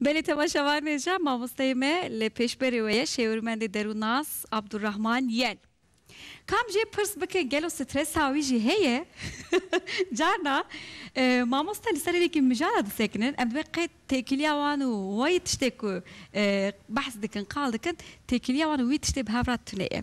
Belê te baş e wan e ja mamosteyê me li pêşberê we ye şêwirmendê derûnnas Abdurrahman Yel. Kam jê pirs bike gelo stresa wî jî heye? Carna mamoste li ser hêlekî mijara disekinin em divê qey têkiliya wan û wayî tiştê ku behs dikin qal dikin têkiliya wan û wî tiştê bi hev re tune ye.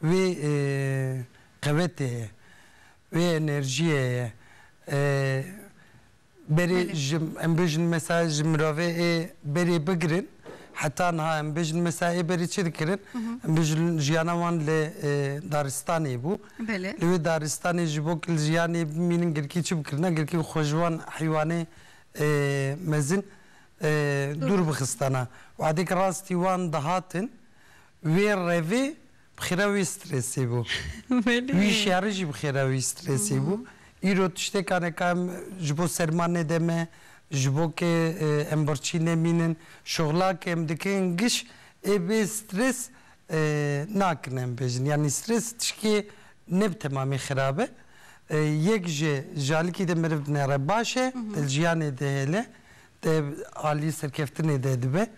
Wê qewetê ye, wê enerjiyê ye. Berê ji em bijin mesa ji mirovê ê berê bigirin heta niha em bijin mesa ê berê çi dikirin? Em bijin jiyana wan li daristanê bû. Li wê daristanê ji bo ku li jiyanê bimînin girkî çi bikirina? Girkî xwe ji wan heywanê mezin dûr bixistana. Wadek rastî wan dihatin Wê revê bi xêra wê stresê bû. Wî şerê jî bi xêra wî stresê bû. Îro tiştêka ne ka em ji bo serma nede me, ji bo ke em birçî nemînin, şixla ke em dikin giş ê bê stres nakin em bêjin. Yanî stres tişkê ne bi temamî xerab e. Yek ji ji alikî de meriv dinere baş e, di jiyanê de hêle. Tê alî serkeftinê de dibe.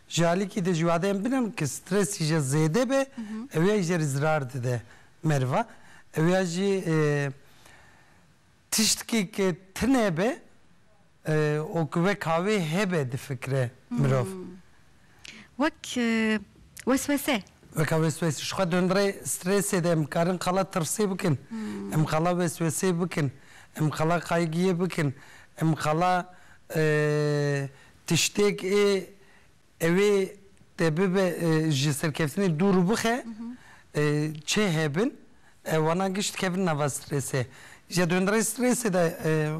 Ji alikî de jî wadeyên bin in ku stresî jê zêde be ew ya jê re zirar dide meriva. Ew ya jî tiştkî ku tune be û ku wek ha wê hebe difikire mirov. Wek weswese. Weka weswese. Ji xwe dondrê strêsê de em karin qala tirsê bikin, em qala weswesê bikin, em qala kaygiyê bikin, em qala tiştêk ê ew ê te bibe ji serkeftinê dûr bixe çê hebin ew wana giş dikevin nava strêsê. Ji dondrê strêsê de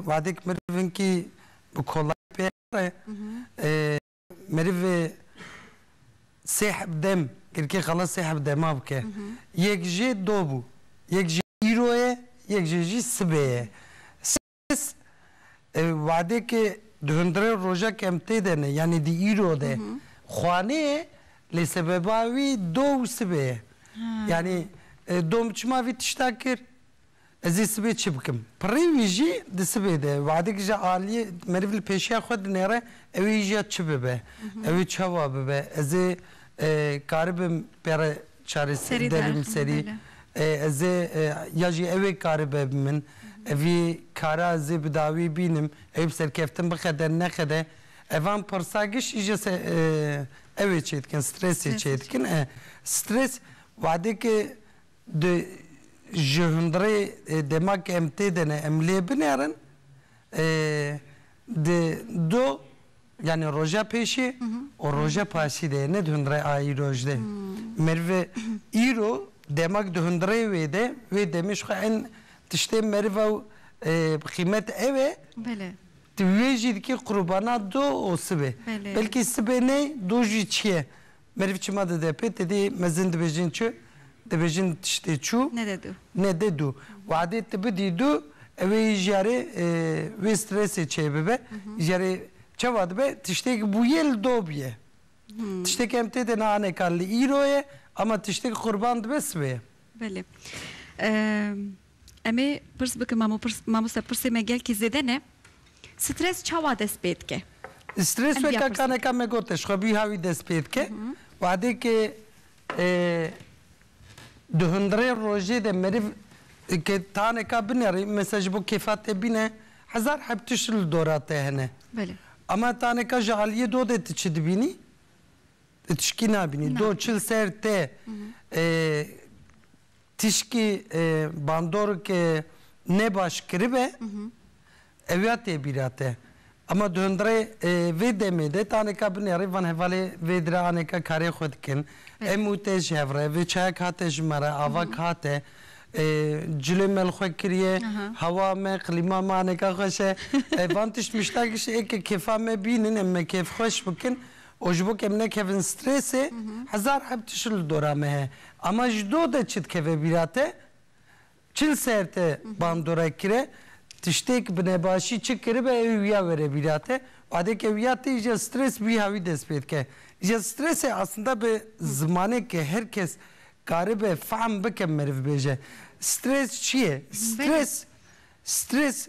wadek meriv hinkî bi kolayî pêya re. Meriv sê heb dem girkê xala sê heb dema bike. Yek jê do bû. Yek jê îro ye, yek jê jî sibê ye. Sibes wadekê di hundirên roja kemtê de ne, yanî di îro de xwanê ye lê sebeba wî do û sibê ye. Yanî do min çima vî tişta kir? Ez ê sibê çi bikim? Pirrê wî jî di sibê de we'dek ji aliyê meriv li pêşiya xwe dinêre, ew ê jiya çi bibe, ew ê çawa bibe, ez ê karibim pê re çareser derim serî, ez ê ya jî ew ê karibe bi min, vî kara ez ê bi dawî bînim, ew ê bi serkeftin bixede nexede, evan pirsa giştî jî ew ê çêdikin, stresê çêdikin e. Stres we'deke. Di ji hundirê dema ke em tê de ne em lê binêrin di du yanî roja pêşê û roja paşî de ye ne di hundirê a îroj de. Meriv îro dema ke di hundirê wê de wê demê ji xwe en tiştê meriv ew bi qîmet ew e tu wê jî dikî qurubana du û sibê belkî sibê ney du jî çiye Meriv çima dide pê tedê mezin dibêjin çi? Dibêjin tiştê çû Nede du. nede du. Wadê ti bidî du ewê yî ji yarê wê stresê çê bibe. Ji yarê çawa dibe? Tiştêk bûye li dob ye. Tiştêk em têde na ane ka li îro ye ama tiştêk qurban dibe sibê ye. Belê. Em ê pirs bikin mamoste pirsê me gelkî zêde ne, stres çawa dest pê dike? Stres weke kaneka me gote ji xwe bîha wî dest pê dike. Wadê ke di hundirê rojê de meriv ke taneka binerî mesela ji bo kêfa te bîne hezar heb tişt li dora te hene. Ama taneka ji aliyê do de tu çi dibînî? Tu tişkî nabînî. Do çil ser te tişkî bandoreke ne baş kiribe ewiya tê bîra te. Ema di hundirê vê demê de taneka binerê van hevalê vê dire aneka karê xwe dikin. Em û te ji hev re vê çayek hate ji me re avak hate cilê me li xwe kiriye hewa me qlîma me aneka xweş e. Van tişt muştakî ji êkê kêfa me bînin em me kêfxweş bikin. Û ji bo ke em nekevin strêsê, hezar heb tişt li dora me heye. Ama ji do de çi dikeve bîra te, çil ser te bandorek kire, tiştêk bi nebaşî çi kiribe ew ê wîya were bîra te. Badêke wîya tê îja strês wîha wî dest pê dike. Îja strêsê eslinda bi zimaneke her kes karibe fehm bike meriv bêje. Strês çi ye? Strês, strês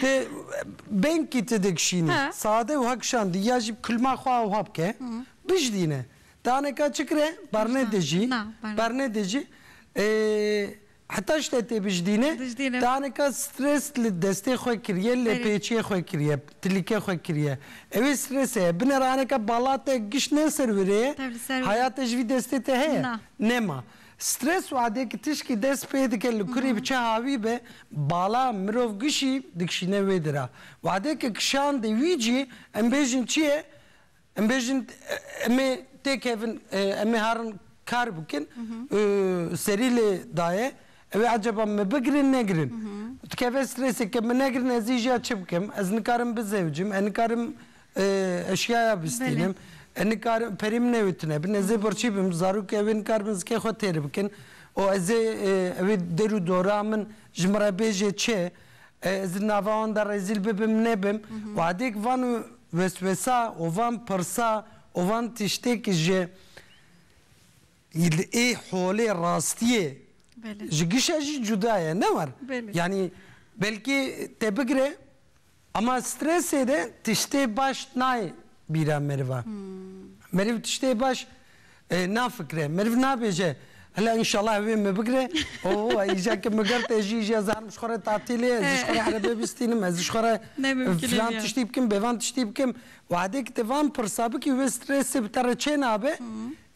Ti bengkî ti digişînî sade wiha kişandî ya jî kulma xwe awiha bike bijdîne. Daneka çi kire berne dijî berne dijî heta ji te tê bijdîne daneka stres li destê xwe kiriye lê pêçiyê xwe kiriye tilîke xwe kiriye ewê strese ye bine raneke bala te giş ne ser wê rê ye haya te ji vî destê te heye? Nema. Stres û adê ki tişkî dest pê dike li kurê bi çi havî be bala mirov gişî dikişîne wê di ra. Wadê ki kişandê wî cî em bêjin çi ye? Em bêjin em ê tê kevin em ê herin kar bikin serî lê daye ew ê ecaba me bigirin negirin. Dikeve stresê ke min negirin ez î jî ya çi bikim? Ez nikarim bizewicim, ez nikarim Eşyaya bistînim. E nikarim perê min ew ê tune bin. Ez ê birçî bim. Zarok ew ê nikaribin zikê xwe têr bikin. Û ez ê ew ê der û dora min ji min re bêje çi? Ez di nava wan de rezîl bibim nebim? Wadêk van weswesa û van pirsa û van tiştêk ji li ê holê rastiyê ji gişa jî cuda ye ne war. Yanî belkî te bigire. Ama stresê de tiştê baş nayê bîra meriva. Meriv tiştê baş nafikre. Meriv nabêje Hela înşallah ew ê min bigire. Oo îcar ke min girt ez jî îjar zarim ji xwe re tatîlê ye, ez ji xwe re erebeyê bistînim, ez ji xwe re filan tiştî bikim, bêvan tiştî bikim. Wehdê ke tu van pirsa bikî wê stresê bi te re çênabe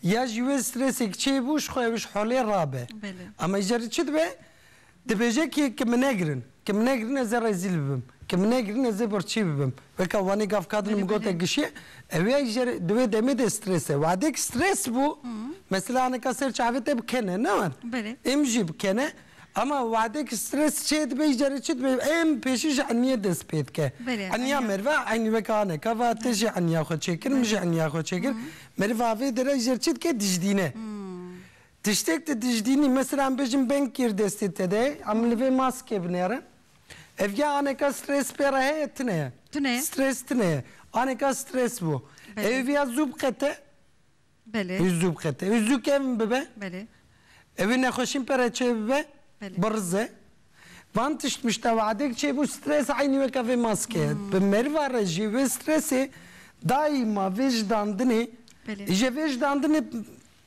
ya jî wê stresê ke çêbû ji xwe ew ji holê rabe. Ama îcar çi dibe? Dibêje ki ki min negirin, ki min negirin ez ê rezîl bibim, ki min negirin ez ê birçî bibim. Weke wanê gav kadinê min gote gişê ewê jer di wê demê de stres e. Wadek stres bû mesela hinika ser çavê te bi kene ne wan êm jî bi kene ema wadek stres çê dibe î jere çi dibe êm pêşî ji eniyê dest pê dike. Eniya meriva enî weke aneka va te jî eniya xwe çêkir min jî eniya xwe çêkir meriv avê dere î jer çi dike dijîdîne. Tiştek di dijdînî mesela em bêjin beng kir destê te de em li vê maskê binêrin. Ev ya aneka stres pê re heye tune ye. Tune ye. Stres tune ye. Aneka stres bû. Belê. Ew ya zû biqete. Belê. Ew zû biqete. Ew zû kevn bibe. Belê. Ew ê nexweşîn pê re çê bibe. Belê. Birize. Van tişt mişt ew adek çê bû stres eynî weke vê maske ye. Bi meriva re jî vê stresê daîma vê jidandinê Belê. îje vê jidandinê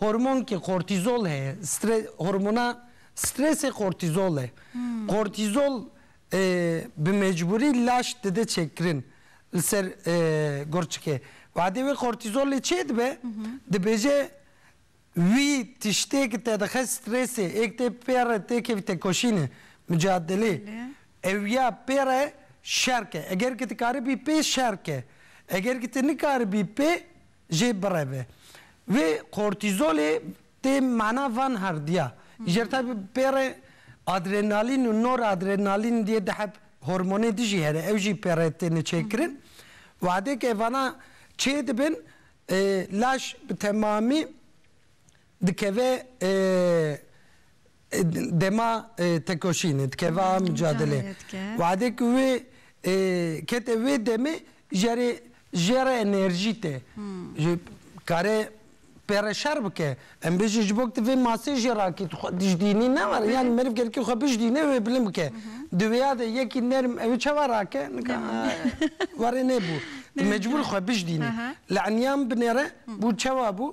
Hormonkê kortîzol heye, stre hormona stresê kortîzol e. Kortîzol bi mecbûrî laş dide çêkirin li ser gurçikê. Wadê wê kortîzolê çê dibe, dibêje wî tiştê ki te dixe stresê, ê ki tê pê re tê kevî tekoşînê, micadelê, ew ya pê re şer ke. Eger ki dikaribî pê şer ke. Eger ki ti nikaribî pê jê bireve. Vê kortîzolê tê mana van herdiya. Îcerta bi pêrê adrenalîn û noradrenalîn diye dihe hormonê di jî here ew jî pêre têne çêkirin. Wadêk evanan çêdibin laş bi temamî Dikeve dema tekoşînê, dikeve a mucadelê. Wade ku wê kete wê demê jere jêra enerjî tê. Kare pêre şer bike. Em bêjin ji bo ku tu vê masê jê rakî, tu xwe dijdînî ne were. Yanî meriv gelkî xwe bijdîne wê bilind bike. Di wêya de yekî nerm ew ê çawa rake? Nika were nebû. Tu mecbûr î xwe bijdînî. Li eniyan binêre bû çawa bû?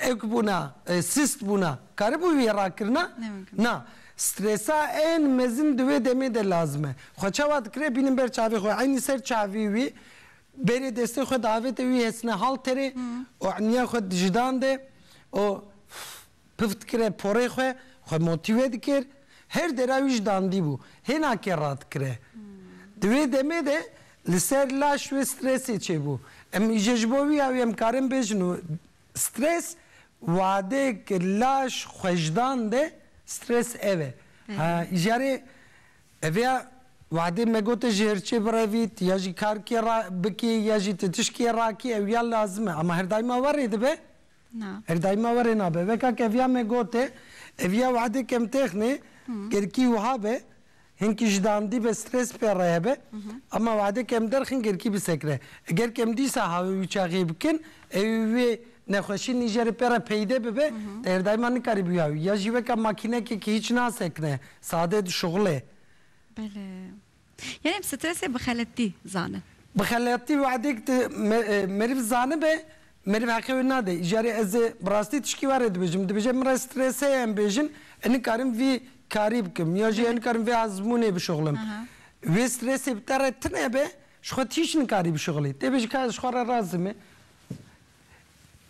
ek bûna, sist bûna karibû wî rakirina? Na. Stresa ên mezin di wê demê de lazim e. Xwe çawa dikire bînin ber çavê xwe. Eynî ser çavî wî bêrê destê xwe diavête wî hesine halterê û eynîya xwe dijidan de û Pif dikire porê xwe, xwe motîve dikir, her dera wî ji dandî bû, hêna kê radikire. Di wê demê de li ser laş wê stresê çêbû. Em îje ji bo wî awî em karin bêjin û stres wadeyek laş xwe ji dande, stres ev e. Ha îjarê eviya wadê me gote ji hirçê birevît ya jî kar kê ra bikî ya jî ti tişt kê rakî ew ya lazim e ama her daîma werê dibe. Na. Her daîma were nabe. Weka keviya me gotê, ev ya wehedê kemtêxnê, gerkî wiha be, hinkî ji dandî be stres pê re hebe, ema wehedê kemderxin gerkî bisekre. Eger kem dîsa hawê wî çaxê bikin, ewê wê nexweşî nîjerê pê re peyde bibe, te her daîma nikarî bi wî hawî. Ya jî weka makînekê ke hîç nasekne, sade di şixulê. Belê. Yanî bi stresê bi xeletî zanin. Bi xeletî wexdê ku tu meriv zanibe meriv heqê wê nade. Jarê ez ê bi rastî tişkî we re dibêjim. Dibêje min re stres heye em bêjin em nikarim vî karî bikim ya jî em nikarim vê azmûnê bişuxlim. Wê stresê bi te re tune be ji xwe tîş nikarî bişuxilî. Tê bêjin ka ez ji xwe re razim me.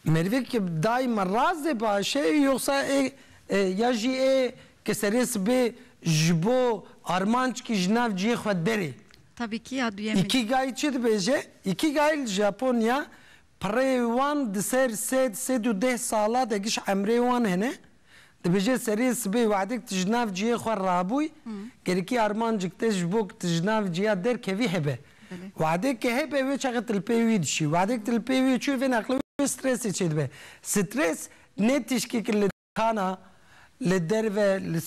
Merivek ki daima rast dê biaşe yoxsa ê ya jî ê ke serê sibê ji bo armanc kî ji nav ciyê xwe derê. Tabi ki ya duyemê. Ikigai çi dibêje? Ikigai li Japonya pirê wan di ser sed, sed û deh sala de giş emrê wan hene. Dibêje seriyê sibê wexdek tu ji nav cihê xwe rabûy, gerekî armancek te ji bo ku tu ji nav ciya derkevî hebe. Wexdek ke hebe wê çaxê tu li pê wî dişî. Wexdek tu li pê wî çûyê vên aqilê wê stresê çêdibe. Stres ne tişkeke li kana, li derve, li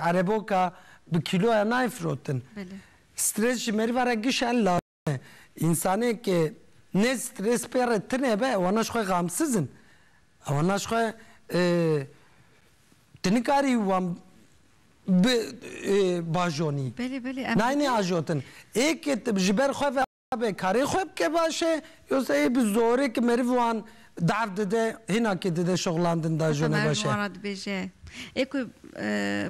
ereboka bi kîloya nayê firotin. Stres ji meriva re gişan lazim. Însanê ke ne strês pê re tine be wana ji xwe gamsiz in. Wana ji xwe tu nikarî wan bi bajonî. Belê belê em. Nayne ajotin. Ê ke tu ji ber xwe ve abe karê xwe bike baş e. Yosa ê bi zorê ke meriv wan daf dide hêna ke dide şixulandin da jone baş e. Heta meriv wan re dibêje ê ku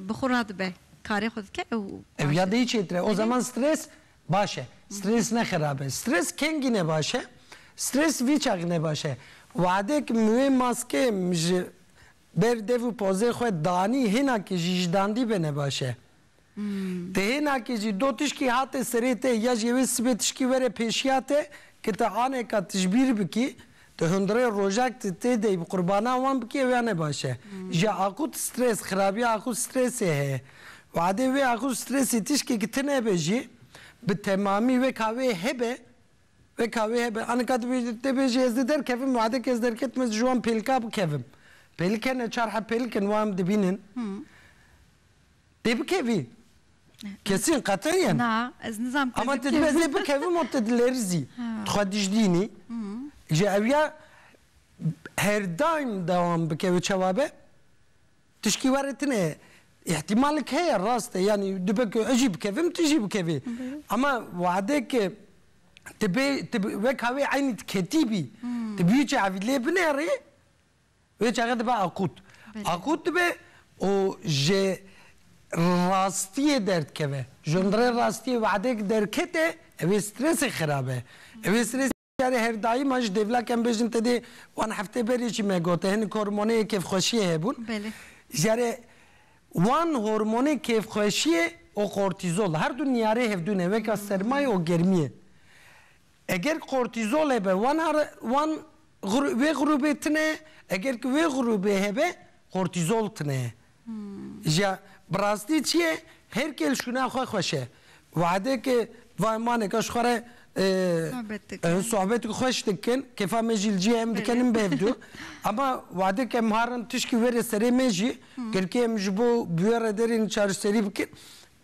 bi xwe radibe karê xwe dike ew. Ew ya dê çêtir e. O zeman strês Baş e. Strês ne xerab e. Strês kengî ne baş e. Strês vî çax ne baş e. Wehdek min wê maskeyê min ji ber dev û pozê xwe danî hênakê jî ji dandî be ne baş e. Ti hênakê jî do tişkî hate serê te ya jê wê sibê tişkî were pêşiya te, ki ti aneka tijbîr bikî, Tu hundirê rojek tu tê de yî bi qurbanan wan bikî ew ya ne baş e. Ji akût strês, xirabiya akût strêsê heye. Wadê wê akût strêsê tişkê ki ti nebe jî bi temamî weka wê hebe, weka wê hebe. Anika tu bêjî, tê bêjî ez dê derkevim, wadê ke ez derketim ez ji wan pêlika bikevim. Pêlik hene, çar heb pêlik in wan dibînin. Pê bikevî? Kesîn qetil yên? Na, ez nizam pê bikevim. Ama te dibê ez ê bikevim û te dilêrizî. Tu xwe dijdînî. Ji ew ya her daîm dewam bike û çawa be tişkî were tune ye. Îhtîmalek heye rast e yanî dibe ku ez jî bikevim tu jî bikevî. Ama wadeke ti bê wek ha wê eynî ti ketîbî, ti biyû çi evî lê binêrî Wê çaxê dibe akût. Akût dibe û ji rastiyê derdikeve. Ji hundirê rastiyê wehdek derkete, ev ê stresê xerab e. Ev ê stresê carê her daîman ji dêvlak em bêjin te dê wan heftê berê jî me gote hinek hormoneyê kêfxweşiyê hebûn. Carê wan hormonê kêfxweşiyê û kortîzol her du niyarê hevdû ne weke sermayê û germiyê. Eger kortîzol hebe wan are wan wê grûbê tune eger ki wê grûbê hebe kortîzol tune ye. Ja bi rastî çi ye her kêl şûna xwe xweş e. Wehdê ki va emaneke ji xwe re sohbeteke xweş dikin kêfa me jî li cihê em dikenin bi hevdu ema wehdê ki em harin tişkî were serê me jî girkê em ji bo bi wê re derên çareserî bikin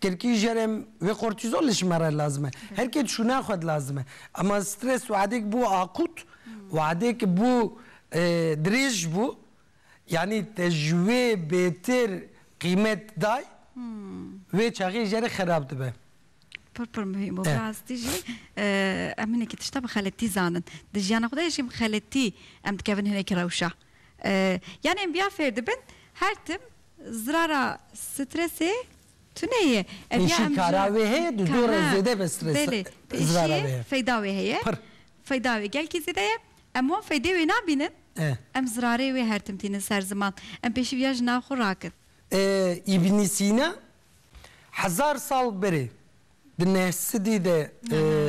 Tirkî jerem vê kortîzol li ji me re lazim e. Her kê dişûne xwe dilazim e. Ema stres weadêk bû akût, weadêk bû dirêj bû. Yanî te ji wê bêtir qîmet day, wê çaxê jere xerab dibe. Pir pir muhîm bû. Bi rastî jî em hinekî tişta bi xeletî zanin. Di jiyana xwe de jî bi xeletî em dikevin hinekî rewşa. Yan em via fêr dibin her tim zirara stresê tune ye. Ev ya em zirara. Pêşî kara wê heye di dor re zêde be stres zirara wê heye. Belê pêşî feyda wê heye. Pirr. Feyda wê gelkî zêde ye. Em wan feydê wê nabînin. Em zirarê wê her tim tînin ser ziman. Em pêşî via ji nav xwe rakin. Îbnî Sîna hezar sal berê Di nehsidî de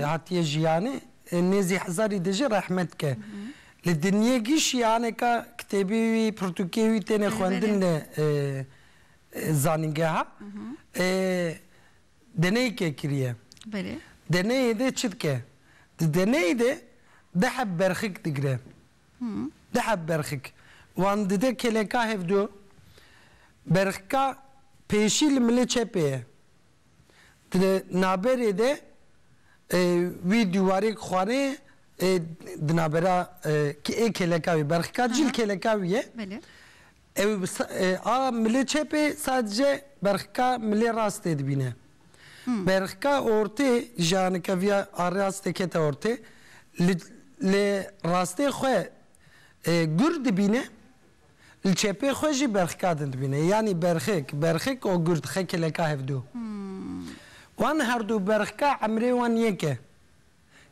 hatiye jiyanê, nêzî hezarî de jî rehmet ke. Li dinyê gişî aneka kitêbê wî, pirtûkê wî têne xwendin li zanîngeha. Deneyeke kiriye. Deneyê de çi dike? Di deneyê de du heb berxik digire. Du heb berxik. Wan dide kêleka hevdu. Berxika pêşî li milê çepê ye. Di naberê de wî du warêk xware di nabera ê kêleka wî berxika cîl kêleka wî ye. Ew a milê çepê sadece berxika milê rastê dibîne. Berxika ortê ji a nikeviya a rastê kete ortê li rastê xwe gur dibîne. Li çepê xwe jî berxika din dibîne. Yanî berxik, berxik û gurt xekileka hevdû. Wan herdû berxika emrê wan yek e.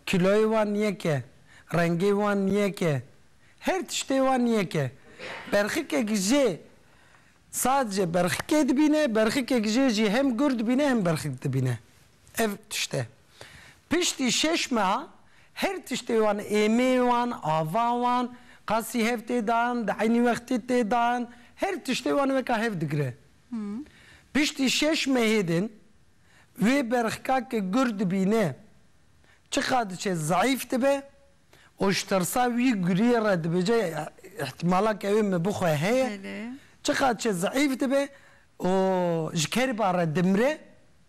Kîloyê wan yek e. Rengê wan yek e. Her tiştê wan yek e. Berxikek jê sadece berxikê dibîne, berxikek jê jî hem gurt dibîne hem berxik dibîne. Ev tişt e. Piştî şeş meha her tiştê wan, êmê wan, ava wan, qasî hev tê dan, di eynî wextê tê dan, her tiştê wan weka hev digire. Piştî şeş mehê din wê berxka ke gur dibîne çiqa diçe zeîf dibe û ji tirsa wî guriyê re dibêje îhtîmala ke ew ê min bixwe heye, çiqa diçe zeîf dibe û ji kerîba re dimire.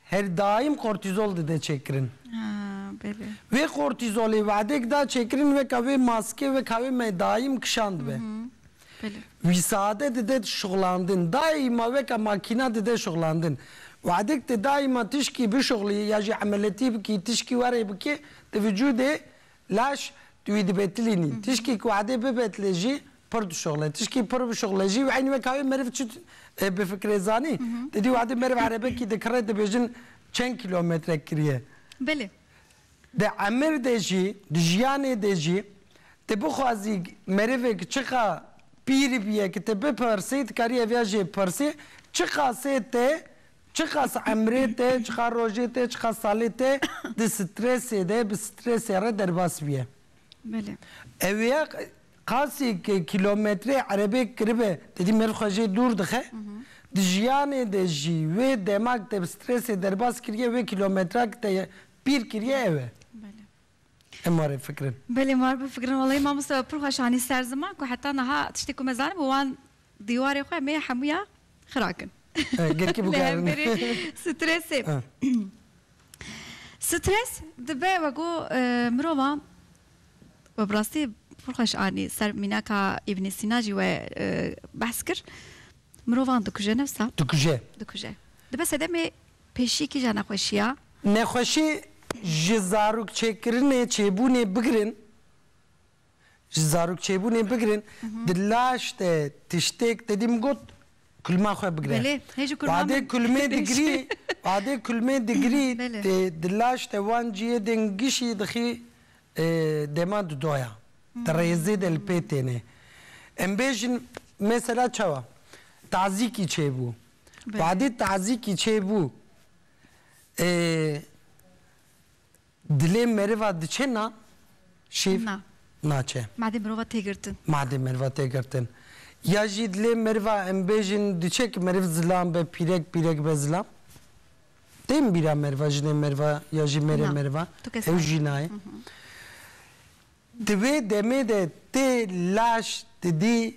Her daîm kortîzol dide çêkirin. Vê kortîzolê wedek da çêkirin weka wê maske weka wê me daîm kişandbe. Wî sade dide şixulandin. Daîma weka makîna dide şixulandin. Wedek ti daîma tişkî bişixulî ya jî emeletî bikî, tişkî werê bikê, di vijûdê Laş, tu wî dibêtilînî. Tişkî ku edê bibêtilê jî pir dişuxile. Tişkî pir bişuxile jî eynî wek hayê meriv çi bifikirê zanî? Didî û edê meriv erebekî dikirê dibêjin çend kîlometrek kiriye. Belê. Di emir de jî, di jiyanê de jî ti bixwazî merivêk çiqa pîr biye ki te bipirsî, dikarî ev ya jê pirsî, çiqasê te Çiqas emrê te, çiqas rojê te, çiqas salê te di stresê de, bi stresê re derbas bûye. Belê. Ew ê qasîk kîlometre erebeyek kiribe, didî mêr xwe jê dûr dixe, di jiyanê de jî wê dema ke te bi stresê derbas kiriye, wê kîlometran ke te pîr kiriye ew e. Belê. Em marê fikirin. Belê mar bifikirin walayi mamoste we pir xweş anî ser ziman ku heta niha tiştê ku me zanibû wan dîwarê xwe em ê hemûya xirakin. Girkî bû gerin. Li hemberî strêsê. Strês dibe we ku mirovan we bi rastî pir xweş anî ser mînaka Îbnî Sîna jî we behs kir mirovan dikuje nefsa. Dikuje. Dikuje. Dibe sedemê. Pêşî kîja nexweşî ya? Nexweşî ji zarokçêkirinê çêbûnê bigirin ji zarokçêbûnê bigirin di laş de tiştêk tedî min got kulma xwe bigire. Belê, hê ji kulma min bigirî. Adê kulmê digirî di laş de wan ciyê dê ngişî dixî dema di doya. Di rêzê de li pê têne. Em bêjin mesela çawa tazîkî çêbû. Badê tazîkî çêbû e, dilê meriva diçe na? Şîv? Na. Naçe. Madê mirova tê girtin. Madê meriva tê girtin. Ya jî dilê meriva em bêjin diçe ki meriv zilam be, pîrek pîrek be zilam? Tên bîra meriva, jinê meriva ya jî mêrê meriva? Na. Tu kes nayê. Ew jî nayê. Di wê demê de tê laş didî.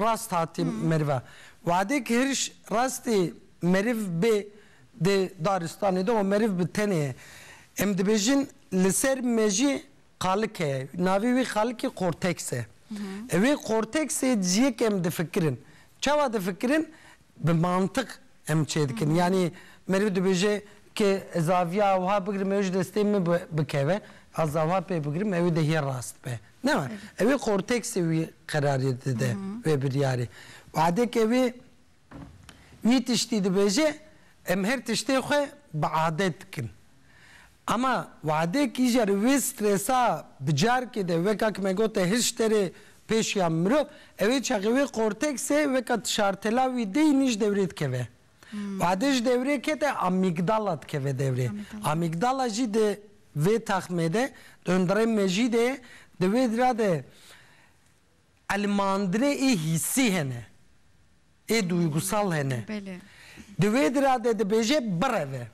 Rast hatî merive. Wadê ki hiriş rastê meriv bê di daristanê de û meriv bi tenê ye. Em dibêjin li ser mejî qalik heye. Navê wê qalikê korteks e. Wê korteksê ciyê ke em difikirin. Çawa difikirin? Bi mantiq em çêdikin. Yanî meriv dibêje ke ez aviya wiha bigirim ew ji destê min bikeve, aza wiha pê bigirim ew ê dehiyê rast be. Na, ew ê korteksê wî qerarê dide wê biryarê. Wadeke wê wî tiştî dibêje, em her tiştê xwe bi adet dikin. Ema Wehdê kîje li wê stresa bi carkê de weka ku me got e hişte rê pêşiya mirov, ew ê çaxê wê korteksê weka ti şartela wî de yîn ji dewrê dikeve. Wehdê ji dewrê kete amîgdala dikeve dewrê. Amîgdala jî di vê taxmê de, di hundirê mejî de ye, di wê dira de Elmandinê ê hîsî hene, ê duygusal hene. Di wê dira de dibêje bireve.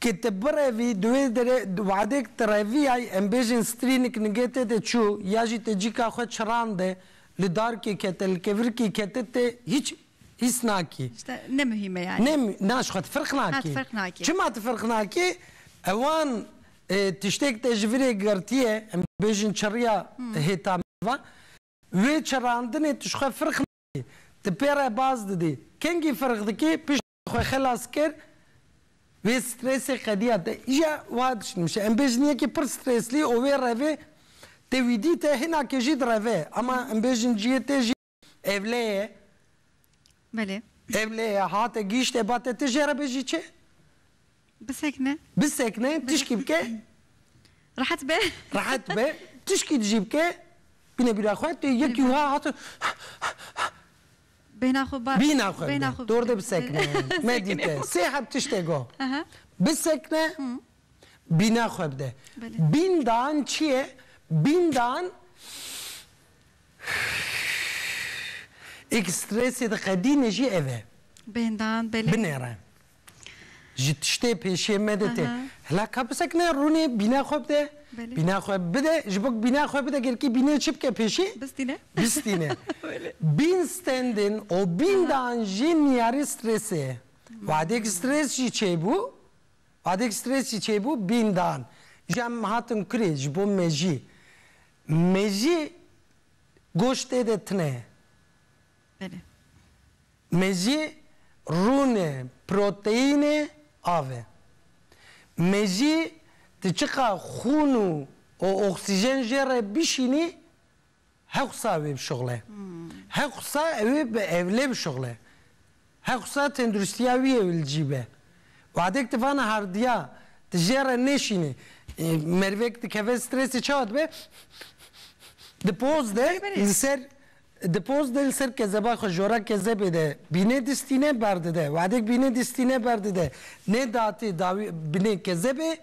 Ke ti birevî di wê derê wadek ti reviyay em bêjin strînik nigê te de çû ya jî te cîka xwe çirande li darkê kete li kevirkê kete te hîç hîs nakî. Tişta ne muhîm e yanî. Ne muhîm na ji xwe ti firq nakî. Çima ti firq nakî ewan Tiştêk te ji virê girtiye, em dibêjin çerriya hêta mirovan. Wê çerrandinê tu ji xwe firq nadî, tu pê re baz didî. Kengî firq dikî, piştî tu xwe xelas kir, wê strêsê qediya te. Îja wiha dişnimşe, em bêjin yekî pir strêslî û wê revê tewî dîte, hinakê jî di revê ye. Ema em bêjin cihê te jî Ev lê ye. Belê. Ev lê ye, hate gihîşte ba te, ti jê re bijî çi? Bisekine. Bisekine, tişkî bike. Rehet be. Rehet be, tişkî di jî bike, bîne bîra xwe, tu yekî wiha hate. Bêhna xwe ba. Bîna xwe bide, dor de bisekine. Medîte, sê heb tiştê got. Bisekine, bîna xwe bide. Bîndan çi ye? Bîndan. Êk strêsê diqedîne jî ev e. Bêndan, belê. Binêre. Ji tiştê pêşê me de tê. Hila ka bisekine rûnê bîna xwe bide. Bîna xwe bide, ji bo ku bîna xwe bide gelkî bînê çi bike pêşê? Bistîne. Bistîne. Bîn stendin û bîndan jî niyarî strêsê ye. Wadêk strês jî çêbû, wadêk strês jî çêbû bîndan. Ji em hatin kurê ji bo me jî Mejî goştê de tune ye. Belê. Mejî rûnê, proteînê, av e. Mejî tu çiqa xûn û oksîjen jê re bişînî hewqsa wê bişuxile. Hewqsa ewê bi ewlê bişuxile. Hewsa tenduristiya wî yê li cî be. Wadek di vana hardiya, di jê re nêşîne. Merivek dikeve stresê çawa dibe? Di poz de li ser di poz de li ser kezeba xwe jora kezebê de bînê distîne berdide. Wadek bînê distîne berdide nê datê dawî binê kezebê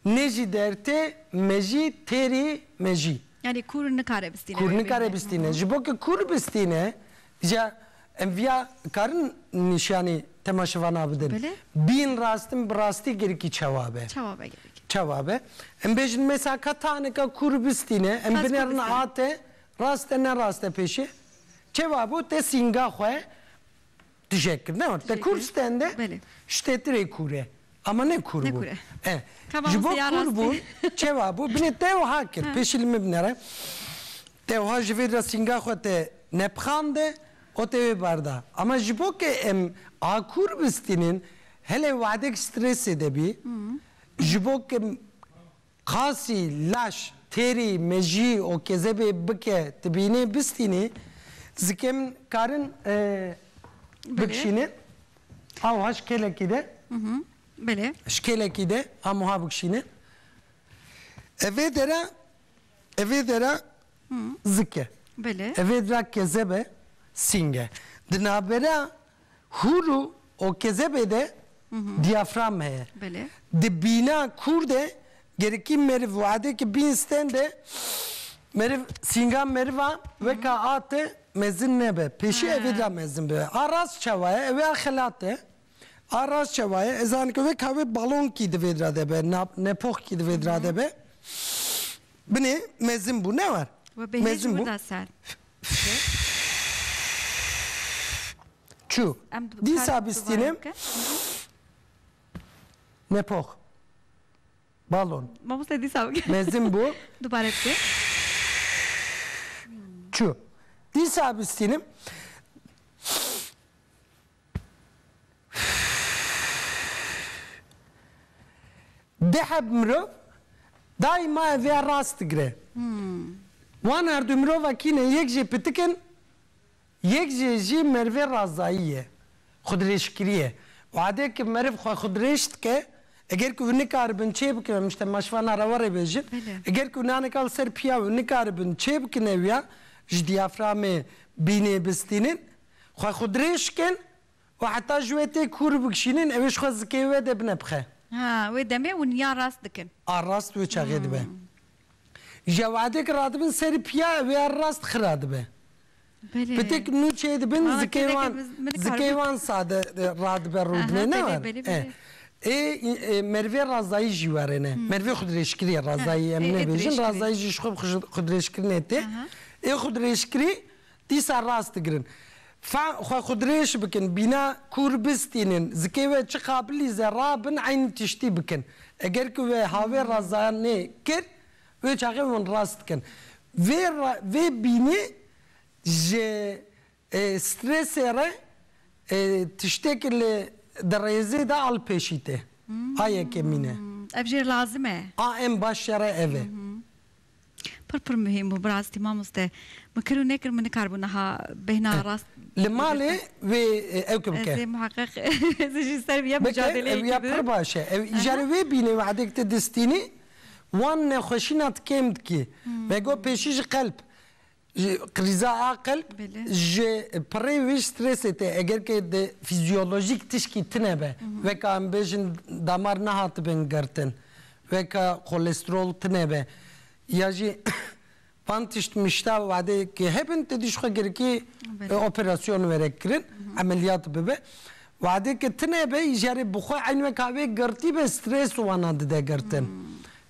Nê jî dertê me jî têrî me jî. Yanî kûr nikare bistîne wê bibîne. Kûr nikare bistîne. Ji bo ku kûr bistîne ja em viya karin nîşanî temaşevanan bidin. Bîn rastin bi rastî girikî çawa be. Çawa be girikî. Çawa be. Em bêjin mesa ka tanika kûr bistîne em binerin ate rast e ne rast e pêşê. Çewa bû te sînga xwe Tije kir. Ne, te kûr stende, ştetirê kûr e. Ama ne kûr bû. E, ji bo kûr bûn, çewa bû? Binê te wiha kir, pêşî li min binere. Te wiha ji vê re sînga xwe te nepixande û te wê bar da. Ama ji bo ke em a kûr bistînin, hele wexdek stresê de bî, ji bo ke Qasî, laş, têrî, mejî û kezebê bike tibînê bistînê, zikêm karin bikişînin awiha ji kêlekî de. Belê. Ji kêlekî de amuha bikişînin. Evê dera, evê dera zik e. Belê. Evê dera kezeb e, sîng e. Di navbera Hûr û okezebê de diyafram heye. Di bîna kûr de gerikî meriv û edeke bîn sten de meriv sînga meriva weka a te mezin nebe. Pêşî evê de mezin bibe. A rast çawa ye? Ewê a xelat e. A rast çawa ye? Ez zanim ke weka wê balonkî di vê de be, nepoxkî di vê de be. Binê mezin bû, ne war. Mezin bû. Çû. Dîsa bistînim. Nepox. Balon. Mamoste dîsa bike. Mezin bû. Dubare bike. Çû. Dîsa bistînim. Diheb mirov daîma ev ya rast digire. Wan erdû mirova kîne yek jê pitik in, yek jê jî merivê razayî ye, xwedrêjkirî ye. Wadê ku meriv xwe xwedrêj dike, eger ku hûn nikaribin çêbikin em ji temaşvana re werê bêjin, eger ku naneke li ser piyav hûn nikaribin çêbikin ew ya ji diyaframê bînê bistînin, Xwe xwe dirêj kin û heta ji wê tê kûr bikişînin ewê ji xwe zikê wê de bine bi xe. Ha, wê demê hûn ya rast dikin. A rast wê çaxê dibe. Ji ewedê ke radibin serî piya ewê a rast xira dibe. Belê. Pitik nûçê dibin zikê wan zikê wan sade radibe rû dime ne war. E. Ê Merivê Razayî jî were ne. Merivê xwedirêjkirî ye Razayî em nêbêjin. Razayî jî ji xwe bi xwedirêjkirinê tê. Ê xwedirêjkirî Dîsa rast digirin. Fehm xwe xwe dirêj bikin, bîna kûr bistînin, zikê we çi qabilî zerra bin eynî tiştî bikin. Eger ku we havê razayanê kir, wê çaxê hûn rast dikin. Vê vê bînê ji stresê re tiştêk li di rêzê de al pêşî tê. A yekemîn e. Ev jê lazim e. A em baş şere ev e. Pir pir muhîm bû birastiî mamoste. Min kir û nekir min nikaribû niha bêhna rast girtin. Li malê wê ew ki bike. Ez ê muheqeq ez jî ser vîya mucadeleyekî bidim. Bike, pir baş e. Ew îjarê wê bîne wexdê ki ti distînî wan nexweşîna ti kêm dikî. Vegot pêşî ji qelb Ji krîza aqil ji pirê wî strêsê tê eger ke di fîzyolojîk tişkî tune be weke em bêjin damar nehatibin girtin weke kolesterol tune be ya jî van tişt mişta wadê ke hebin tu dî ji xwe girikî operasyon were kirin emeliyat bibe wadê ke tune be îjarê bi xwe eyn weke wê girtî be strês wana dide girtin.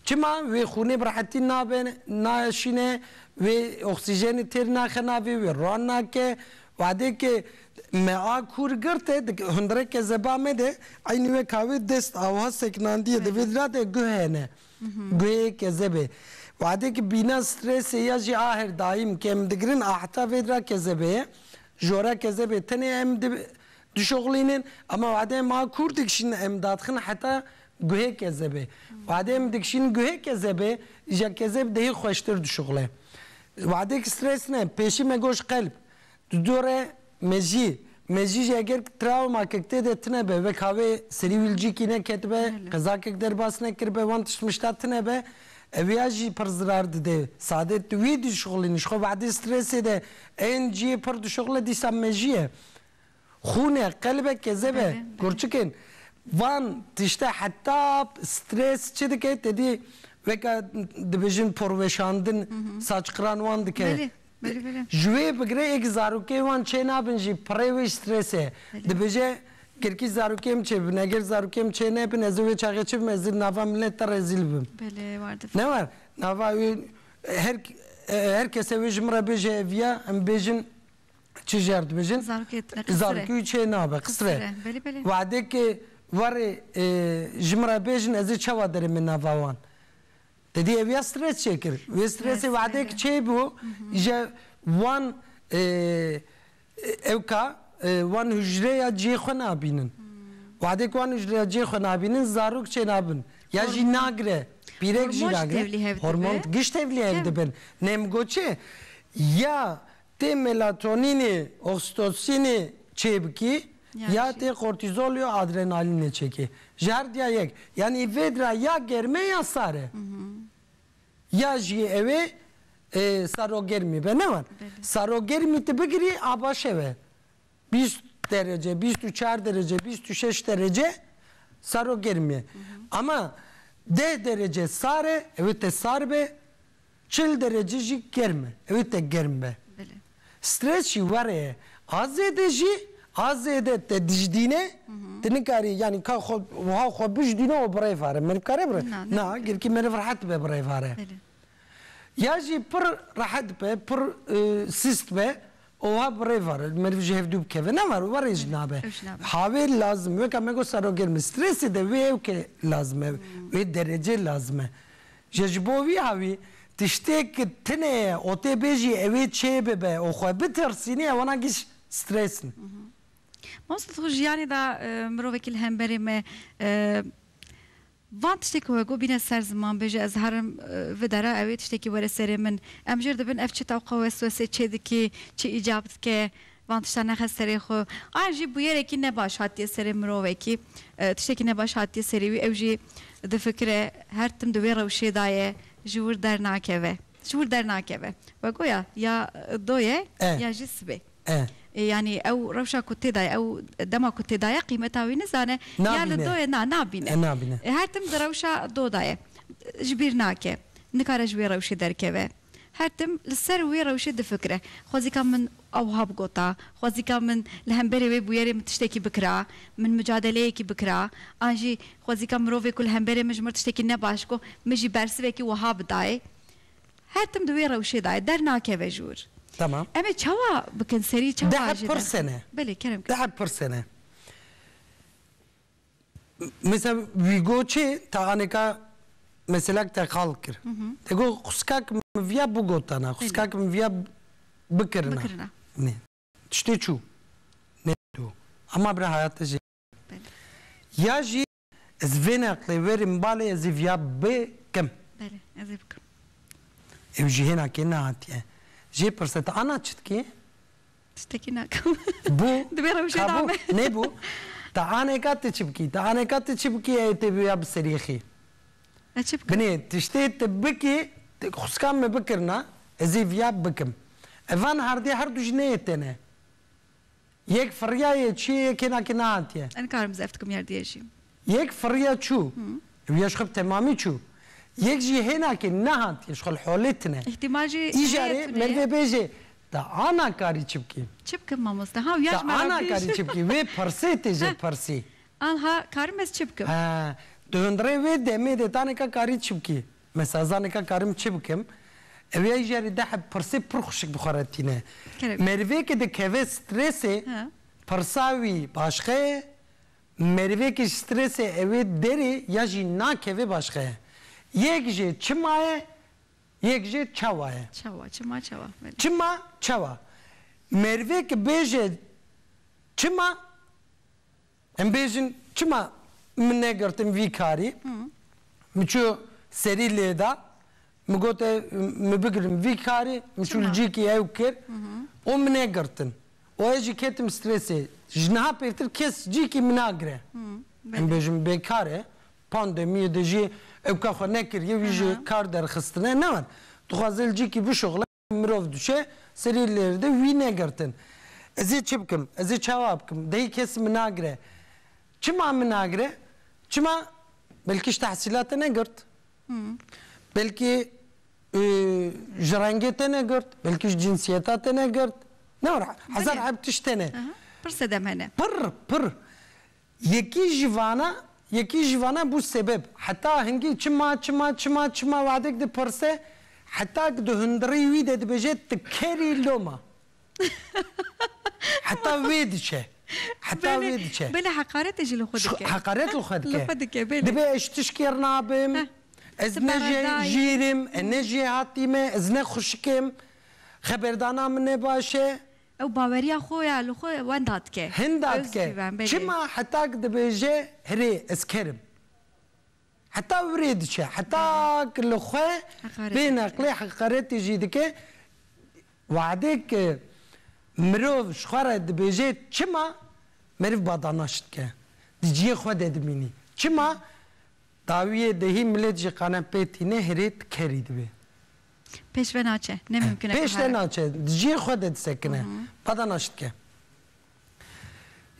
Çima wê xûnê bi rehetî nabe, naeşîne, wê oksîjenê têr naxe navê wê, ran nake. Wadêkê me a kûr girte di hundireke zeba me de eynî weka wê dest a wiha sekinandîye di vê dira de guh hene. Guhêke zebê. Wadêkê bîna stresê ya jî a her daîm ke em digirin a heta vê dira ke zebe ye. Ji oreke zebê tenê em Dişoxlînin ama wadê ma kûr dikişînin em dadixin heta guhê kezebê. Wadê em dikişînin guhê kezebê îja kezeb dihê xweştir dişoxle. Wadêk stres ne, pêşî me goş qelb. Di dore mejî, mejî jî eger trawmakek tê de tine be, wek havê serî wîlcîkî neketibe, qezakek derbas nekiribe, wan tişt mişta tine be, eviya jî pir zirar dide. Sadê tu wî dişoxlînî, ji xwe wadê stresê de ên cihê pir dişoxle dîsa mejî ye. Xûne, qelbe, kezebe, kurçikên van tişte heta stres çi dike tedî weke dibêjin porweşandin saçqiran wan dike. Ji wê bigire êk zarokê wan çênabin jî pirê wê strese dibêje girkî zarokê min çêbibin eger zarokê min çênebin ez ê wê çaxê çi bim ez ê nava milet de rezîl bim. Ne war nava wê her kese wê ji min re bêje ev ya em bêjin çi jî hev dibêjin, zarokê wî çê nabe, qisir e. Wedekê warê ji min re bêjin ez ê çawa derê min nava wan. Didî ev ya stres çê kir. Wê stresê wedek çê bû je wan ewka wan hûcreya cihê xwe nabînin. Wedek wan hûcreya cihê xwe nabînin zarok çê nabin. Ya jî nagire, pîrek jî nagire. Hormon gişt tevlî hev dibin. Nê min got çi? Ya Tê melatonînê, oksitosînê çêbikî ya tê kortîzolê û adrenalînê çêkê. Ji her diya yek. Yanî vêd ra ya germ e ya sar e. Ya jî ew ê sarogermî be ne wan. Sarogermî ti bigirî a baş ew e. Bîst derece, bîst û çar derece, bîst û şeş derece sarogermî ye. Ama deh derece sar e, ew ê te sar be. Çil derece jî germ e, ew ê te germ be. Stres jî were ye. A zêde jî, a zêde te dijdîne, tu nikarî yanî ka xwe wiha xwe bijdîne û birêvare. Meriv kare bire? Na, girkî meriv rehet be birêvare. Ya jî pir rehet be, pir sist be û wiha birêvare. Meriv ji hevdû bikeve. Na were, were jî nabe. Havê lazim e. Weke me got serogermî. Stresê de wê ew ke lazim e, wê derecê lazim e. Jê ji bo vî hewî tiştêk tune ye û tê bêjî ew ê çêbibe û xwe bitirsînî ew wan giş stress in. Mamoste tu jiyanê de mirovekî li hemberê me van tiştê ku we got bîne ser ziman bêje ez herim vi dere ew ê tiştekî were serê min em jêr dibin ev çi tewqa weswesê çêdikê çi îcab dike Van tiştan nexe serê xwe. Aya jî bûyerekî ne baş hatiye serê mirovekî. Tiştekî ne baş hatiye serê wî. Ew jî difikire, her tim di wê rewşê da ye, ji wir dernakeve. Ji wir dernakeve. We goya ya do ye ya jî sibê. Yanî ew rewşa ku tê da ye, ew dema ku tê da ye qîmeta wî nizane. Ya li do ye, na, nabîne. Her tim di rewşa do da ye. Ji bîr nake. Nikare ji wê rewşê derkeve. Her tim li ser wê rewşê difikire. Xwezîka min ewha bigota. Xwezîka min li hemberê wê bûyerê min tiştekî bikira, min micadeleyekî bikira. An jî xwezîka mirovê ku li hemberê min ji mir tiştekî ne baş got, min jî bersivekî wiha bidayê. Her tim di wê rewşê da ye, dernakeve ji wir. Tamam. Em ê çawa bikin, serî çawa jê derxin? Belê, kerem kir. Di her pirsê ne. Misal wî got çi ta anêka meselek te xal kir. Te got xuskak min viya bigotana, xuskak min viya bikirina. Nê. Tiştê çû. Nê do. Ema bira hayate jê. Ya jî ez vê neqlê werim balê ez ê viya bikim. Belê ez ê bikim. Ew jî hêna kê nehatiye. Jê pirse ta ana çi dikê? Stekî nakim. Bû. Di vê rewşê de me. Nebû. Te anêka ti çi bikî? Te anêka ti çi bikî eyê tê bûya bi serî xî? Ez çi bikim? Binê tiştê ti bikî, xweskan me bikirina, ez ê viya bikim. Ev van erdê her du jî neyê tene. Yek firiyaye, çiyê yekê nakê nehatiye. Nikarim zef dikim yerdiyê jî. Yek firiye çû, ew ya ji xwe bi temamî çû. Yek jî hêna ke nehand ya ji xwe li holê tine. Îhtîmal jî heye tune ye. Îjarê merdê bêje, te ana karî çi bikî? Çi bikim mamoste? Ha ew ya ji me re bêje. Te ana karî çi bikî? Wê pirsê tê jê pirsî. Anha karim ez çi bikim? He, di hundirê wê demê de ta nika karî çi bikî? Mesela za nika karim çi bikim? Ew ya îjarê deh bi pirsê pir xwişik bi xwe re tîne. Merdê ke dikeve strêsê, pirsa wî başixe ye, Merivêkê ji stresê ewê derê ya jî nakeve başxe ye. Yek jê çima ye, yek jê çawa ye. Çawa, çima, çawa, belê. Çima, çawa. Merivêk bêje çima, em bêjin çima min negirtin vî karî, min çû serî lê da, Min got e min bigirin vî karê, min çû li cihekî ew kir û min e girtin û ez jî ketim strêsê. Ji niha pêştir kes cihekî min nagire. Em bêjin bêkar e, pandemiyê de jî ew ka xwe nekiriye wî ji kar derxistine ne wan. Dixwaze li cihekî bişuxile. Mirov dişe serî lêrde wî negirtin. Ez ê çi bikim? Ez ê çawa bikim? Dehî kes min nagire. Çima min nagire? Çima belkî ji tehsîla te negirt. Belkî ji rengê te negirt, belkî ji cinsiyeta te negirt. Hezar eb tişt hene. Pir sedem hene. Pir, pir. Yekî ji vana yekî ji vana bû sebeb. Heta hingî çima çima çima çima wadek dipirse heta ku di hundirî wî de dibêje tu kerî loma. Heta wê diçe. Heta wê diçe. Belê heqaretê jî li xwe dike. Heqaret li xwe dike. Li xwe dike belê. Dibê ez ji tişkêr nabim, ez ne jê jîr im, ez ne jêhatî me, ez ne xwişik im, xeberdana min ne baş e. Ew baweriya xwe ya li xwe wenda dike. Hinda dike. Özgüven, belê. Çima hetak dibêje hirê ez ker im. Heta wirê diçe. Hetak li xwe Heqaretê bê dike. neqlê heqaretê jî dike. Wehdê ke mirov ji xwe re dibêje çima meriv badanaş dike. Di ciyê xwe de dimînî. Çima dawiyê dehî milêt jî qane pê tîne hirê ti kerî dibê. Pêş ve naçe. Ne mimkun e Pêş te naçe. Di cihê xwe de disekine. Badana şi dike.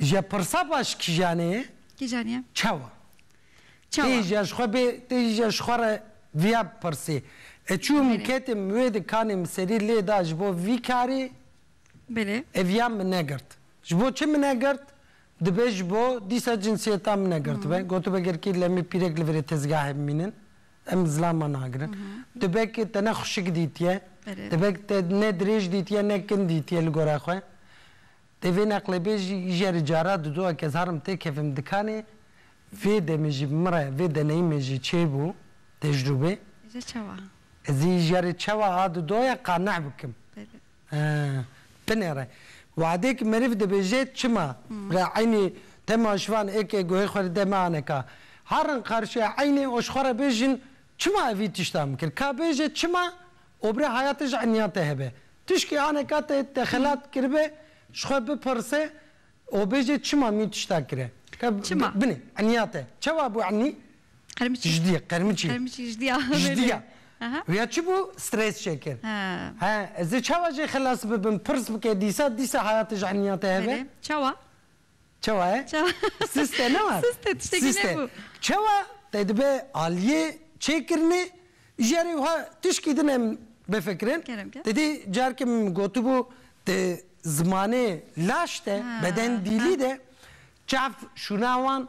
Je pirsa baş kîjanê ye? Kîjanê ye? Çawa? Çawa? Tê jî ji xwe bê, tê jî ji xwe re viya bipirsî. Ez çûm ketê min wê di kanê min serî lê da ji bo vî karî Belê. Ev ya min negirt. Ji bo çi min negirt? Dibe ji bo dîsa cinsiyeta min negirtibe. Gotibe ger kî lemê pîrek li virê tezgahê bimînin. Em zilama nagirin. Dibe ke te ne xuşik dîtiye, dibe ke te ne dirêj dîtiye ne kin dîtiye li gora xwe. Dê vê neqlêbêjî jeri cara didoa ke ez harim têkevim dikanê, vê demê jî min re, vê deneyîmê jî çêbû, tecrûbê. Ji çawa? Ezî jeri çawa a didoya qane bikim. Tenê re wadê ki meriv dibêjê çima re eynî dema ji van êkê guhê xwe li de me ane ka herin qarşiya eynê û ji xwe re bêjin çima evî tiştan bikir ka bêjê çima obrê hayatê ji enyan te hebe tişkî ane ka te te xelat kiribe ji xwe bipirsê û bêjê çima mî tiştan kire ka binê enya te çewa bû enî Qermiçî. Jidî, qermiçî. Qermiçî jidî ya. Jidî ya. Rêya çi bû? Stres çêkir. He. Ez ê çawa jê xilas bibim? Pirs bike dîsa, dîsa heyatê ji heniya te hebe. Belê. Çawa? Çawa ye? Çawa. Sist e ne were? Sist e, tiştekî nebû. Sist e. Çawa te dibe aliyê çêkirinê, ji erê wiha tişkî din em bifikirin. Kerem ke. Te dî careke min gotibû di zimanê laş de, beden dîlî de çav şûna wan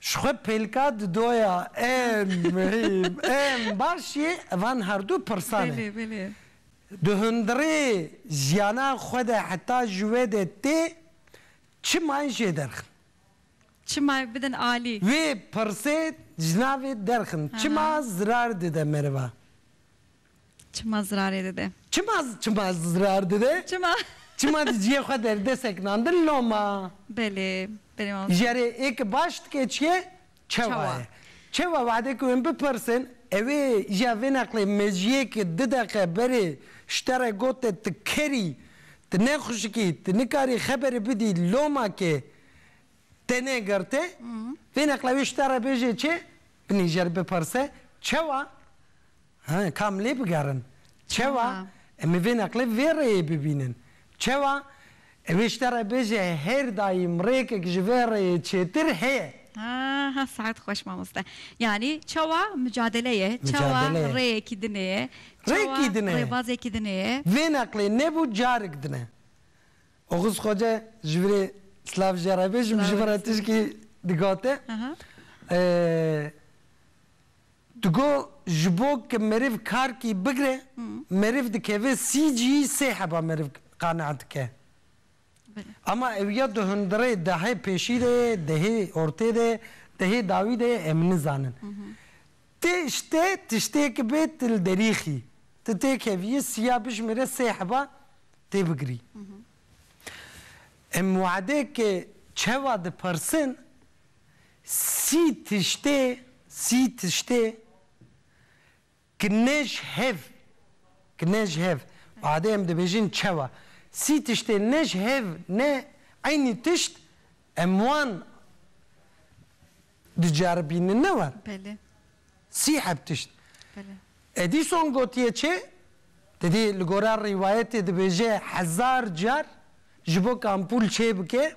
Ji xwe pêlka dido ya ên muhîm ên baş yê van herdu pirsan e. Di hundirê jiyana xwe de heta ji wê de tê çima yên jê derxin? Çima ê bidin alî? Vê pirsê ji navê derxin çima zirar dide meriva? Çima zirarê dide? Çima çima zirar dide? Çima. Çima di ciyê xwe derdesek nan di loma? Belê, belê mamoste. Jere ê ki baş dike çi ye? Çewa ye. Çewa wahde ku em bipirsin ewê ja vê neqlê mejiyê ki du deqe berê şte re got te tu ker î, tu nexuşik î, tu nikarî xeberê bidî loma kê te negirte, vê neqle wê şte re bêje çi? Binê jer bipirse, Çewa? He, ka em lê bigerin. Çewa? Em ê vê neqlê vê rêyê bibînin. Çewa? Ew ê ji te re bêje hêr dayî mirêkek ji vê rêyê çêtir heye. Ha, saet xweş mamoste. Yanî çewa micadele ye, çewa rêyekî din ê, çewa rêbazekî din ê. Vê neqlê nebû carik din e. Oguz Xoce ji vîrê silav ji re bêjim ji min re tişkî digote. Digo ji bo ke meriv karkî bigre meriv dikeve sî cî sê heba meriv qaneh dike. Ama ew ya di hundirê dehê pêşî de ye, dehê ortê de ye, dehê dawî de ye em nizanin. Ti işte tiştêk bê ti li derî xî. Ti tê keviyî sîya bijimêre sê heba tê bigirî. Em wade ke çewa dipirsin Sî tiştê, sî tiştê ki ne ji hev, ki ne ji hev, badê em dibêjin çewa, sî tiştê ne ji hev ne eynî tişt em wan diceribînin ne war. Belê. Sî heb tişt. Belê. Edîson gotiye çê, te dî li gora rîwayetê dibêje hezar car ji bo kampûl çê bike.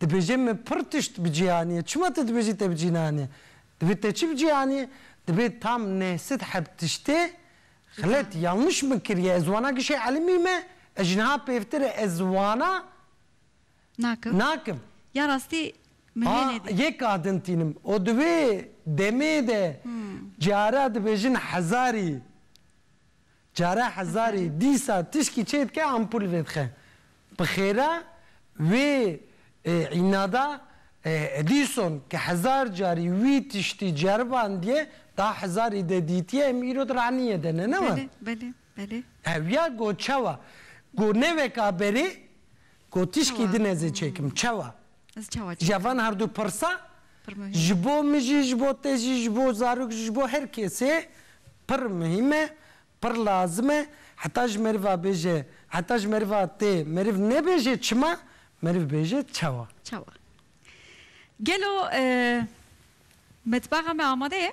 Dibêje min pir tişt bi cîhaniyê, çima tu dibêjî te bi cî neanîye? Divê te çi bi cî anîye? Divê tam neh sed heb tiştê xelet, yanliş min kiriye, ez wana kişê elimî me, ez ji niha pêvtir e ez wana nakim. Ya rastî min lê nedît. Yek kadin tînim û di wê demê de cara dibêjin hezarî Care hezarî dîsa tişkî çê dike ampul vêdixe. Bi xêra wê înada Edîson ke hezar carî wî tiştî ceribandiye da hezarî de dîtiye em îro di ranîye de ne ne wan? Belê belê belê. Ew ya go çawa? Go ne weka berê Got tişkî din ez ê çêkim. Çawa? Ji van herdu pirsa ji bo min jî, ji bo te jî, ji bo zarok jî, ji bo her kesê pir muhîm e, pir lazim e. Heta ji meriva bêje, heta ji meriva tê meriv nebêje çima, meriv bêje çawa? Çawa? Gelo metbaxa me amade ye?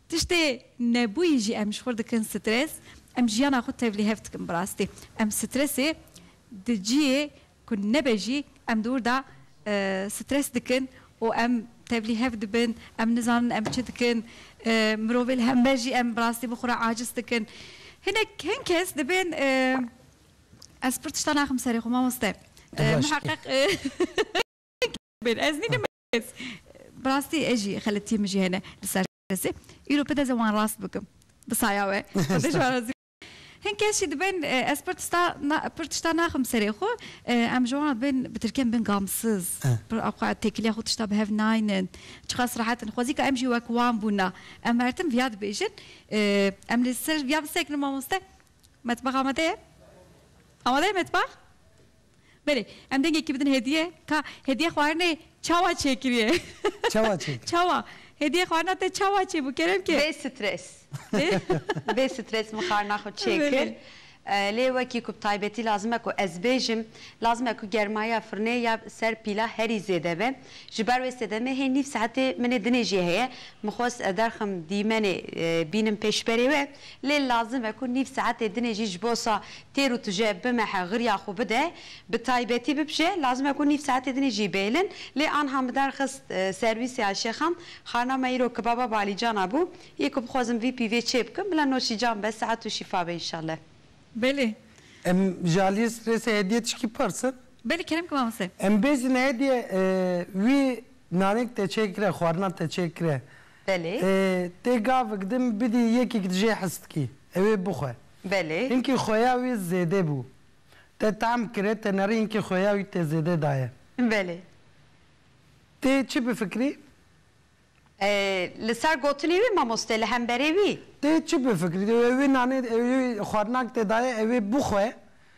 Tiştê nebûyî jî em ji xwe dikin stres, em jiyana xwe tevlî hev dikin bi rastî. Em stresê di ciyê ku nebe jî em di wir de stres dikin û em tevlî hev dibin, em nizanin em çi dikin, mirovê li hember jî em bi rastî bi xwe re aciz dikin. Hinek hin kes dibên ez pir tişta naxim serê xwe mamoste, muheqeq hin kes dibên ez nînim Kes. Bi rastî ez jî xeletiyên min jî hene li ser kesê. Îro pide ze wan rast bikim. Bi saya we. Xwedê ji wan razî be. Hin kes jî dibên ez pir tista na pir tişta naxim serê xwe. Em ji wan re dibên bi tirken bin gamsiz. Pir xwe ya têkiliya xwe tişta bi hev naynin. Çiqas rehet in. Xwezîka em jî wek wan bûna. Em mertim viya dibêjin. Em li ser viya bisekinin mamoste. Metbax amade ye? Amade ye metbax? Belê, em dengekî bidin hediye. Ka hediye xwarinê çawa çêkiriye? Çawa çêkir? Çawa. Hediye xwarina te çawa çêbû kerem ke? Bê stres. Bê stres min xwarina xwe çêkir. Lê wekî ku bi taybetî lazim e ku ez bêjim, lazim e ku germaya firinê ya ser pîla herî zêde be. Ji ber wê sedemê hê nîv saetê min ê dinêjiyê heye. Min xwest derxim dîmenê bînim pêşberê we. Lê lazim e ku nîv saetê dinê jî ji bo sa têr û tije bimehe xirya xwe bide. Bi taybetî bibije lazim e ku nîv saetê dinê jî bêlin. Lê anha min derxist serwîsê ya şêxan xarina me îro kibaba balîcana bû. Yê ku bixwazim vî pîvê çê bikim bila noşîcan be saet û şîfa be înşalle. Belê. Em ji aliyê stresê hediye tişkî pirsin? Belê kerem ki mamoste. Em bêjin hediye wî nanik te çêkire xwarina te çêkire Belê. Tê gavik din bidî yekîk dijê histîkî, ew ê bixwe. Belê. Hinkî xuya wî zêdê bû. Te tahm kire, te nerî hinkî xuya wî tê zêdê daye. Belê. Tê çi bifikirî? Li ser gotinê wî mamoste, li hemberê wî. Tê çi bifikirî? Ew ê wê nanê, ew ê wê xwarinak te daye, ew ê bixwe.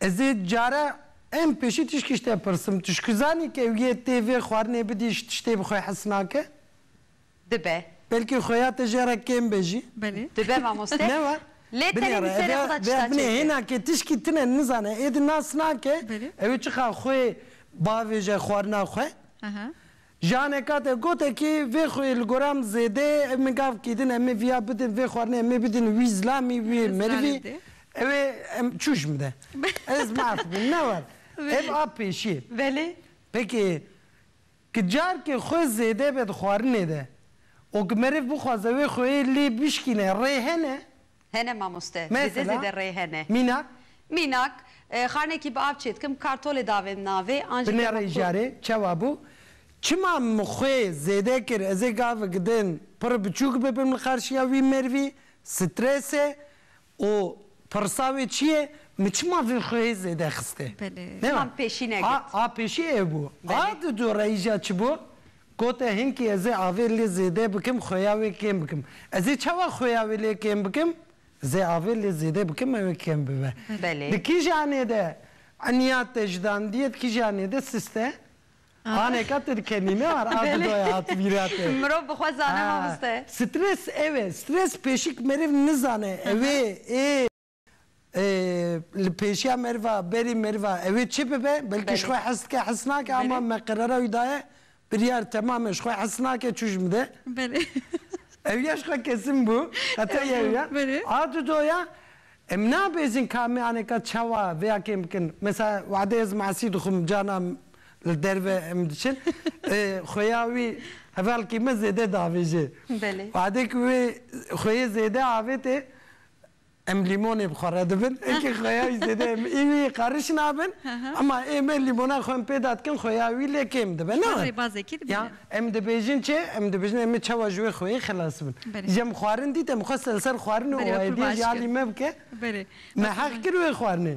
Ez ê care em pêşî tişkî ji te pirsim, tu şikû zanî ke ew yê tê vê xwarinê bidî ji tiştê bi xwe hes nake? Dibe. Belkî xuya te jê re kêm be jî. Belê. Dibe mamoste. Ne wa? Lê tenê bi serê xwe de tişta çêkir. Binê hêna ke tişkî tune nizane êdî nas nake, ew ê çiqas xwe bavêje xwarina xwe. Jane kate gote ki vê xwî li goram zêdê min gav kîdin em ê viya bidin vê xwarinê em ê bidin wî zilamî wî merivî ew ê em çûş bide ez maaf bûm ne war ev a pêşî belê peki ki carkê xwe zêde be di xwarinê de û ki meriv bixwaze wê xweyê lê bişkîne rê hene. Hene mamoste. Zêde Mesela? zêde rê hene. Mînak? Mînak, Xarnekî bi av çêdikim, kartolê davêm navê, an jî dema Binêreyî ku. jarê çewa bû? Çima min xwê zêde kir ez ê gavik din pir biçûk bibim li qarşiya wî mêrvî? Stres e û pirsa wê çi ye? Min çima vê xwê zêde xiste? Belê. Nema. Çima min pêşî negirtî? A a pêşî ew bû. A Belê. di dûreyî ja çi bû? Got e hinkî ez ê avê lê zêde bikim xuya wê kêm bikim. Ez ê çawa xuya wê lê kêm bikim? Ez ê avê lê zêde bikim ew ê kêm bibe. Di kîjanê de eniya te ji dandiyê di kîjanê de sist e. Anêka tu dikenî ne war a dido ye hat bîra te. Mirov bi xwe zane mamoste. Stres ew e. Stres pêşik meriv nizane ew ê ê. Li pêşiya meriva berî meriva ew ê çi bibe? Belkî ji xwe hez dike hez nake ama me qerara wî daye biryar temam e ji xwe hez nake çû ji min de. Ew ya ji xwe kesin bû heta yew ya. A du do ya em nabêjin ka me aneka çawa vêya kêm bikin. Mesela wade ez masî dixwim cana li derve em diçin xuya wî hevalkî me zêde diavêje. Wade ku wê xuyê zêde avêtê. Em lîmonê bi xwe re dibin. Ekê xuya wî zêde em ê wî qeriş nabin. Ema ê me lîmona xwe em pê de dikin xuya wî lê kêm dibe. Ne were? Ya em dibêjin çi? Em dibêjin em ê çawa ji wê xuyê xilas bin. Ji em xwarin dît em xwest li ser xwarin û ewayediyê jî alî me bike. Me heq kir wê xwarinê.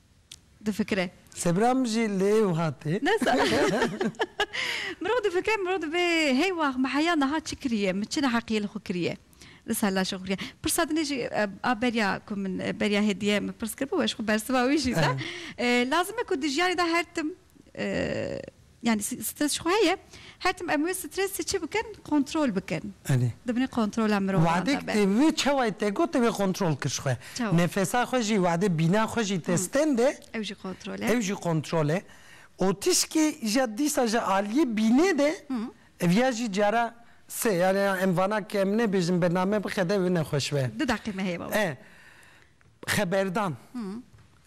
difikire. Sebra min jî li êw hate. Ne sa. Mirov difikire mirov dibe hey wax min heya niha çi kiriye, min çi neheqiyê li xwe kiriye. Li ser laşê xwe kiriye. Pirsa din jî a beriya ku min beriya hêdiye min pirs kiribû, ez ji xwe bersiva wî jî da. Lazim e ku di jiyanê de her tim. Yanî stres ji xwe heye. Her tim em wê stresê çi bikin? Kontrol bikin. Di binê kontrola mirovan de be. Wedek tê vê çawayê te got, tê vê kontrol kir ji xwe. Nefesa xwe jî wedê bîna xwe jî te stende. Ew jî kontrol e. Ew jî kontrol e. Û tişkê ja dîsa ji aliyê bînê de ev ya jî cara sê. Yanî em vana ke em nebêjin bername bixede ew nexweş be. Du deqî me heye baba. Xeberdan.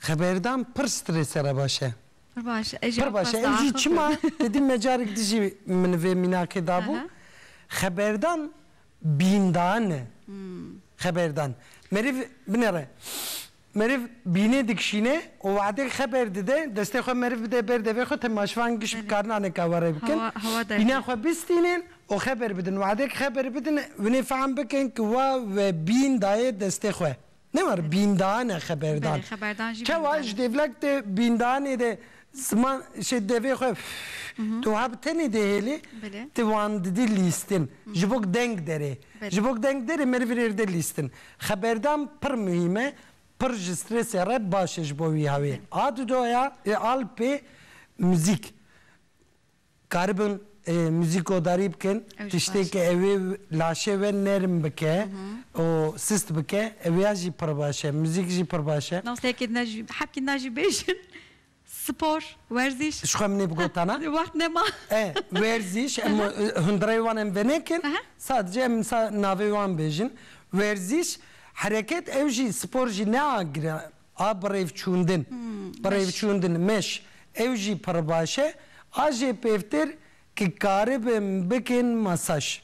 Xeberdan pir strese re baş e. Pir baş e. Pir baş e. Ew jî çima te dî me carek di jî min vê mînakê dabû. Xeberdan bîndan e. Xeberdan. Meriv binêre. Meriv bînê dikişîne û wehdek xeber dide, destê xwe meriv bide ber devê xwe te maşvan giş bikarin aneka we rê bikin. Bîna xwe bistînin û xeber bidin. Wehdek xeber bidin winê fehm bikin ku we we bîn daye destê xwe. Ne war bîndan e xeberdan. Çawa ji dêvlek de bîndanê de ziman şê devê xwe tu wiha bi tenê dê hêlê tu wan didî lîstin ji bo deng derê. Ji bo deng derê meriv rêr de lîstin. Xeberdan pir muhîm e pir ji stresê re baş e ji bo wî hawê. A di doya ê alpê muzîk. Dikaribin muzîk odarî bikin, tiştêke ew ê laşê we nerm bike û sist bike, ew ya jî pir baş e, muzîk jî pir baş e. Naseyekê din jî, hepkî din jî bêjin, spor, werzîş. Jixwe min ê bigotana. Wext nema. E, werzîş, em hundireyê wan em venekin, sadece em navê wan bêjin. Werzîş, hereket, ew jî spor jî ne a giran, a birêvçûndin, birêvçûndin, mesh, ew jî pir baş e, a jê pêvtir ki karibin bikin masaj.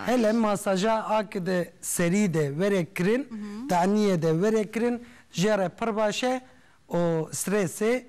Hele masaja a ki di serî de were kirin, teniyê de were kirin jê re pir baş e û strêsê